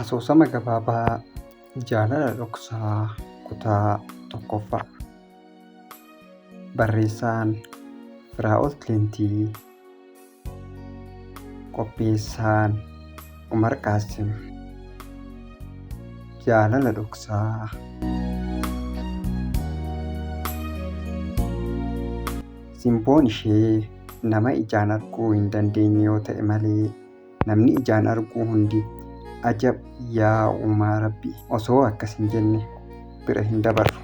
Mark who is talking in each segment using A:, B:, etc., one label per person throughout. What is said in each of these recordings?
A: Asoosama gabaabaa jaalala dhoksaa kutaa tokkoffaa barreessaan Firaa'ol Tilintii Qopheessaan Umar Qaasim Jaalala Dhoksaa Simboon ishee nama ijaan arguu hin dandeenye yoo ta'e malee namni ijaan arguu hundi ajab yaa uumaa rabbi osoo akkas hin jenne bira hin dabarru.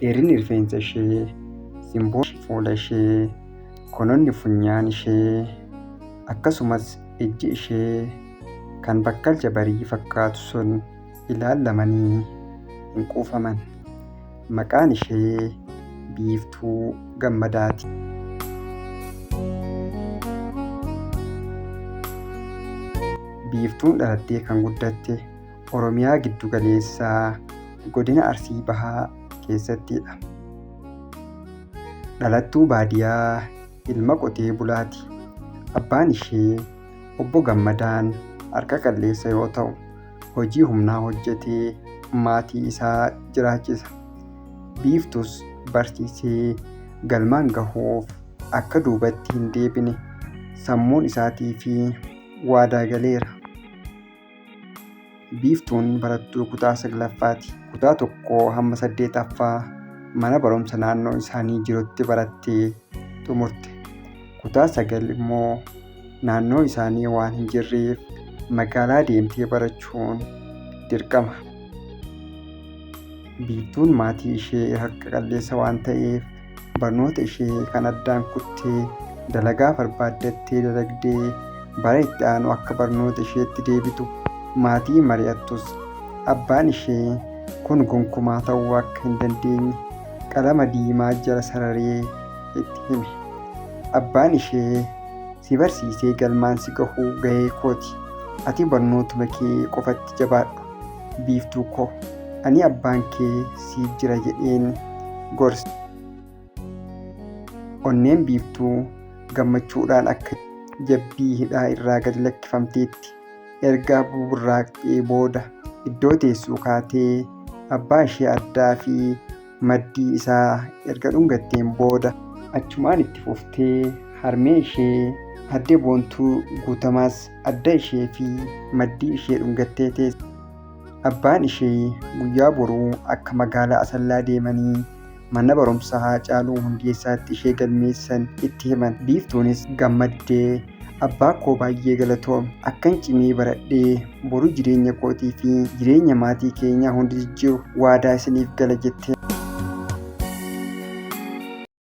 A: dheerinni rifeensa ishee, simboon fuula ishee, gononni funyaan ishee, akkasumas ijji ishee kan bakkalcha barii fakkaatu sun ilaallamanii hin quufaman. Maqaan ishee Biiftuu Gammadaati. Biiftuun dhalattee kan guddatte Oromiyaa giddu galeessaa godina Arsii Bahaa keessattidha. Dhalattuu baadiyaa ilma qotee bulaati. Abbaan ishee obbo Gammadaan harka qalleessa yoo ta'u, hojii humnaa hojjetee maatii isaa jiraachisa. Biiftus barsiisee galmaan gahuuf akka duubatti hin deebine sammuun isaatii fi waadaa galeera. Biiftuun barattuu kutaa 9ffaati. Kutaa 1 hamma 8ffaa mana barumsa naannoo isaanii jirutti barattee xumurte. Kutaa 9 immoo naannoo isaanii waan hin jirreef magaalaa deemtee barachuun dirqama. Biiftuun maatii ishee harka qalleessa waan ta'eef barnoota ishee kan addaan kuttee dalagaa barbaaddattee dalagdee bara itti aanu akka barnoota isheetti deebitu maatii mari'attus abbaan ishee kun gonkumaa ta'uu akka hin dandeenye qalama diimaa jala sararee itti hime. Abbaan ishee si barsiisee galmaan si gahuu gahee kooti. Ati barnootuma kee qofatti jabaadhu. biiftuu ko ani abbaan kee siif jira jedheen gorse onneen biiftuu gammachuudhaan akka jabbii hidhaa irraa gad lakkifamteetti erga buburraaqxee booda iddoo teessuu kaatee abbaa ishee addaa fi maddii isaa erga dhungatteen booda achumaan itti fuftee harmee ishee Aadde Boontuu Guutamaas adda ishee fi maddii ishee dhungattee teesse. Abbaan ishee guyyaa boruu akka magaalaa Asallaa deemanii mana barumsaa Haacaaluu Hundeessaatti ishee galmeessan itti himan. Biiftuunis gammaddee Abbaa koo baay'ee galatoomi. Akkan cimee baradhee boru jireenya kootii fi jireenya maatii keenyaa hunda jijjiiru waadaa isiniif gala jettee.